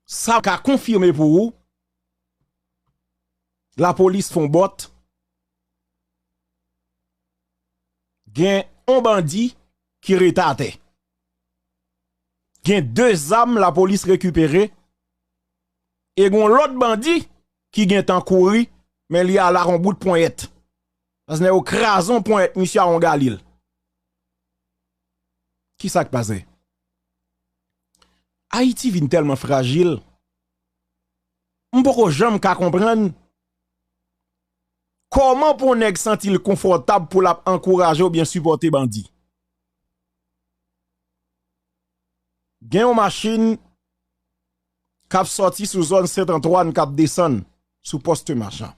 Sa ka konfime pou ou lapolis fon bòt gen yon bandi ki rete atè. Gen 2 zam lapolis rekipere e gon lòt bandi ki gen tan kouri men li ala kon bout ponyèt. Pas nè yo kraze yon ponyèt misye a yon galil. Ki sa k pase? Ayiti vin tèlman frajil, m poko janm ka konprann kòman pou yon nèg santi l konfòtab pou l ap ankouraje oubyen sipòte bandi. Gen yon machin k ap sòti sou zòn Sent Antwàn k ap desann sou Poste Machan.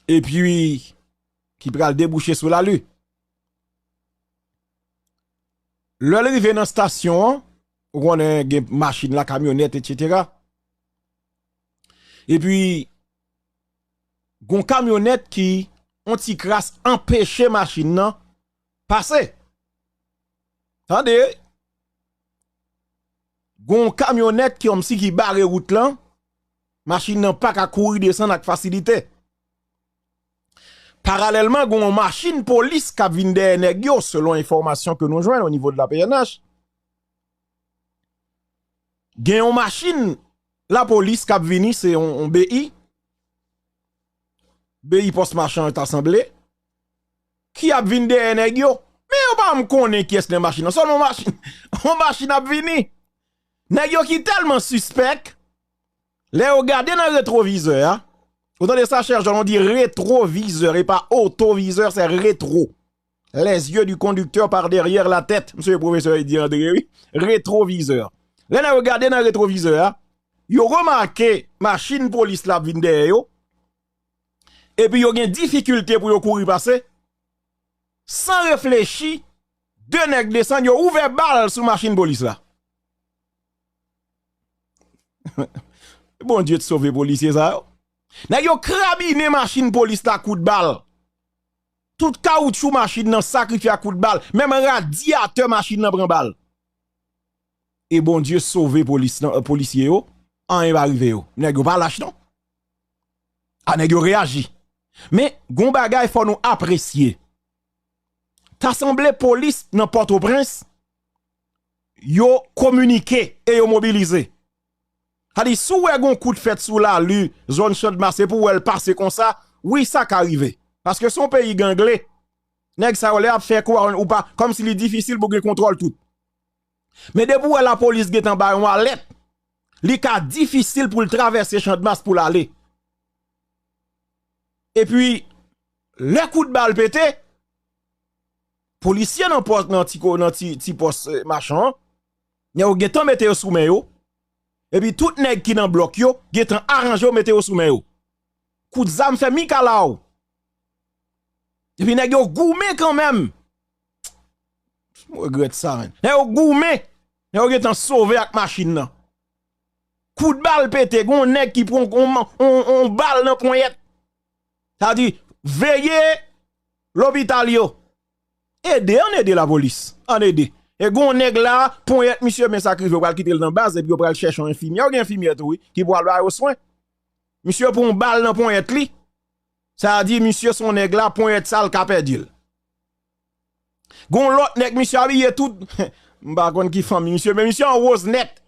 Epi ki pral debouche sou Lali. Lè l rive nan stasyon an, ou konnen gen machin la, kamyonèt etsetera. Epi gon kamyonèt ki on ti kras anpeche machin nan pase. Tande, gon kamyonèt ki kòmsi ki bare wout lan, machin nan pa ka kouri desann ak fasilite. Paralèlman gen yon machin polis kap vin dèyè nèg yo selon enfòmasyon ke nou jwenn o nivo de la pnh. Gen yon machin la polis kap vini se yon BI, BI pòs machan ta sanble, ki ap vin dèyè nèg yo. Men yo pa janm konnen kiyès nan machin nan, sèlman yon machin ap vini. Nèg yo ki tèlman sispèk, Lè yo gade nan retwovizè a, ou tande sa chè Jan, nou di retwovizè e pa otwovizè, se retwo. Les yeux du conducteur par derrière la tête, msye pwofesè Eddy André wi, retwovizè. Lè nèg yo gade nan retwovizè a, yo remake machin polis la ap vin dèyè yo, epi yo gen difikilte pou yo kouri pase, san reflechi, 2 nèg desann yo ouvè bal sou machin polis la. Bondye t sove polisye sa yo. Nèg yo krabinen machin polis la kout bal. Tout kawoutchou machin nan sakrifye ak kout bal, menm radyatè machin nan pran bal. E Bondye sove polis nan, polisye yo, anyen pa rive yo. Nèg yo pa lach non. A nèg yo reyaji. Men, gon bagay fò nou apresye. Ta sanble polis nan Pòtoprens. yo kominike e yo mobilize. Sa di si w wè gen yon kout fèt sou lalu zòn Chandmas epi w wè l pase konsa, wi sa ka rive. Paske se yon peyi gangle, nèg sa yo lè y ap fè kou a ou pa, kòmsi li difisil pou gen kontwòl tout. Men depi w wè lapolis gen tan ba yon alèt, li ka difisil pou l travèse Chandmas pou l ale. Epi lè kout bal pete, Polisye nan pòs nan ti ko nan ti ti pòs machan an nè yo gentan mete yo sou men yo epi tout nèg ki nan blòk yo gentan aranje yo mete yo sou men yo kout zam fè mikalaw epi nèg yo goumen kanmenm m regrèt sa menn nèg yo goumen nèg yo gentan sove ak machin nan kout bal pete gon nèg ki pran on on bal nan ponyèt. Sa di veye lopital yo. Ede ann ede lapolis. Ann ede. E gon nèg la ponyèt misye men sa k rive yo pral kite l nan baz epi yo pral chèche yon enfimyè. Ou gen enfimyè tou wi ki pral ba yo swen. Misye pran yon bal nan ponyèt li. Sa di misye son nèg la ponyèt sa l ka pèdi l. Gon lòt nèg misye abiye tout m pa konn ki fanmi misye men misye an woz nèt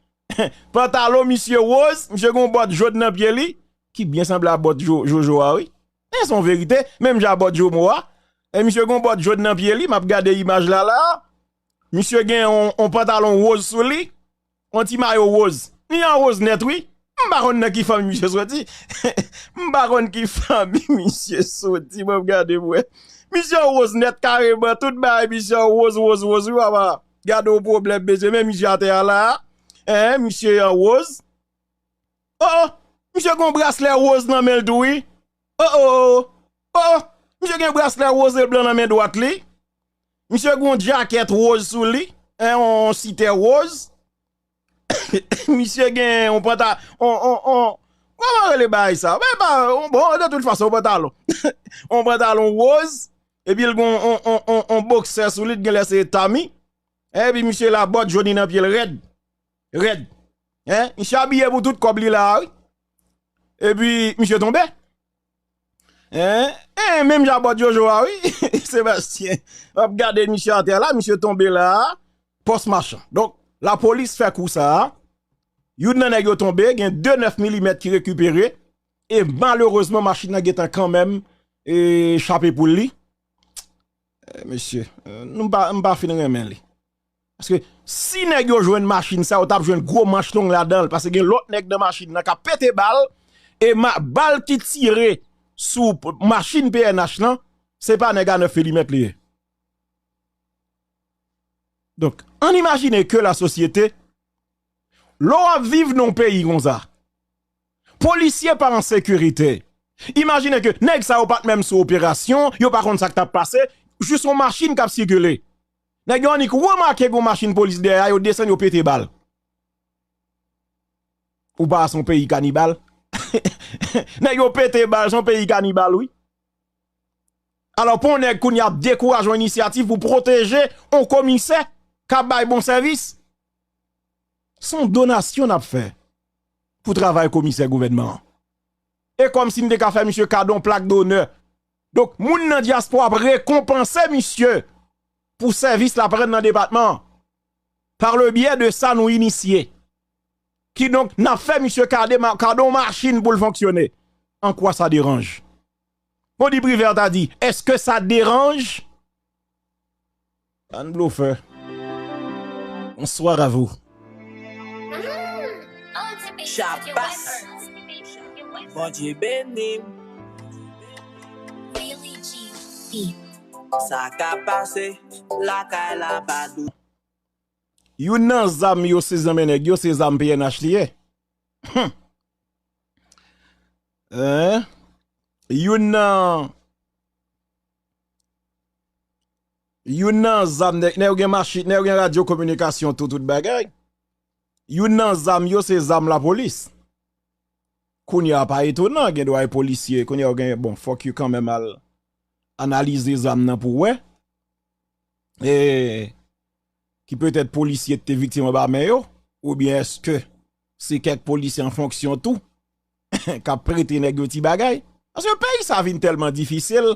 pantalon misye woz misye gon bòt jod nan pye li ki byen sanble a bòt jojo a wi e son verite menm jan a bòt jomo a e misye gon bòt jod nan pye li m ap gade imaj la la misye gen yon pantalon woz sou li. On ti mayo woz. Li an woz nèt wi. M pa konn nan ki fanmi misye soti. M pa konn ki fanmi misye soti. Bon gade m wè. Misye an woz nèt kareman. Tout bagay misye an woz woz woz wi papa. Gade on pwoblèm mesye. Men misye atè a la a. Eeh misye an woz. Oh oh. Misye gen yon braslè woz nan men l tou wi. Oh oh. Oh oh. Misye gen yon braslè woz e blan nan men dwat li. Misye gon jacket rose sou li, on site rose. Misye gen on panta, on, on, on, kouman rele bay sa? Bay pa, on bon, on de tout fason, on pantalon. On pantalon rose, epi l gon on, on, on, on boxer sou li, t gen lè se tami. Eh, epi misye la bòt joni nan pye l rèd. Rèd. Eh, misye abiye pou tout kòb li la, wi. Epi, misye tonbe. Hein hein menm jan bòt jojo a wi Sébastien ap gade misye atè la misye tonbe la pòs machan donk la polis fè kou sa youn nan nèg yo tonbe gen 2 9 milimèt ki rekipere e malerezman machin nan gentan kanmenm chape pou li. Mesye nou pa m pa fin renmen li. Paske si nèg yo jwenn machin sa yo tap jwenn gwo manch long ladanl paske gen lòt nèg nan machin nan kap pete bal e bal ki tire sou machin pnh lan se pa nèg a 9 milimèt li ye. Donk ann imajine ke la sosyete lè w ap viv nan yon peyi konsa. Polisye pa an sekirite. Imajine ke nèg sa yo pa t menm sou operasyon, yo pa konn sa k t ap pase, jis yon machin k ap sikile. Nèg yo annik remake gen yon machin polis dèyè a, yo desann, yo pete bal. Ou pa wè se yon peyi kanibal? Nèg yo pete bal, se yon peyi kanibal wi. Alò pou yon nèg kounye a dekouraje yon inisyativ pou pwoteje yon komisè k ap bay bon sèvis? Son donasyon nap fè pou travay komisè gouvènman an. E kòmsi m te ka fè misye kado yon plak donè. Donk moun nan dyaspora ap rekonpanse misye pou sèvis lap rann nan depatman an. Par le byè de sa nou inisye. Kidonk nap fè misye kade kado yon machin pou l fonksyone. An kwa sa deranj? Bon di Privert a di, eske sa deranj? Anne Blofè Bonsoir à vous. Shabbass Bondye benim Sa ka pase lakay la pa dout. Youn nan zam yo sezi nan men nèg yo se zam pnh li ye. Humm. Youn nan. Youn nan zam nèg yo gen machin, nèg yo gen radyo kominikasyon tou tout bagay. Youn nan zam yo se zam lapolis. Kounye a pa etonan gen dwa e polisye kounye a ou gen bon fòk yo kanmenm al analize zam nan pou wè e ki petèt polisye te viktim anba men yo oubyen eske se kèk polisye an fonksyon tou. kap prete nèg yo ti bagay paske peyi sa vin tèlman difisil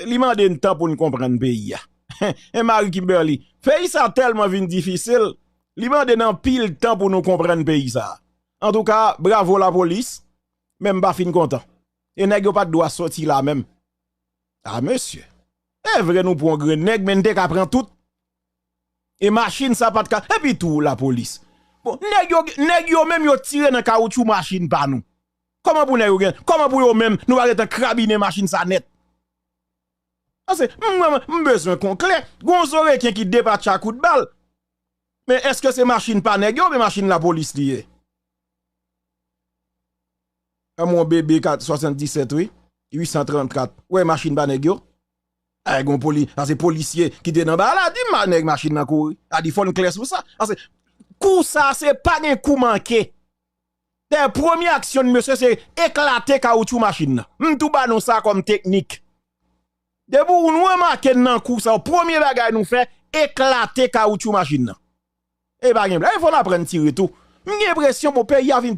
li mande n tan pou n konprann peyi a e Marie Kimberly peyi sa tèlman vin difisil li mande n anpil tan pou nou konprann peyi sa antouka bravo lapolis men m pa fin kontan e nèg yo pat dwa soti la menm a mesye e vre nou pran grenn nèg men n te ka pran tout. E machin sa pat ka epi tou la polis bon nèg yo nèg yo menm yo tire nan kawoutchou machin pa nou kòman pou nèg yo gen kòman pou yo menm nou pa gentan krabinen machin sa nèt pase mwen m bezwen kon klè gon zo reken ki depatcha kout bal men eske se machin pa nèg yo oubyen machin la polis li ye. An mon BB 77 wi 834 ou wè machin pa nèg yo Ay gon poli sa se polisye ki te nan ba la di ma nèg machin nan kouri a di fòn klè sou sa pase kou sa se pa gen kou manke dè premye aksyon mesye se eklate kawoutchou machin nan m tou ba nou sa kòm teknik depi w nou remake n nan kou sa w premye bagay nou fè eklate kawoutchou machin nan e pa gen blag fò n aprann tire tou m gen enpresyon bon peyi a vin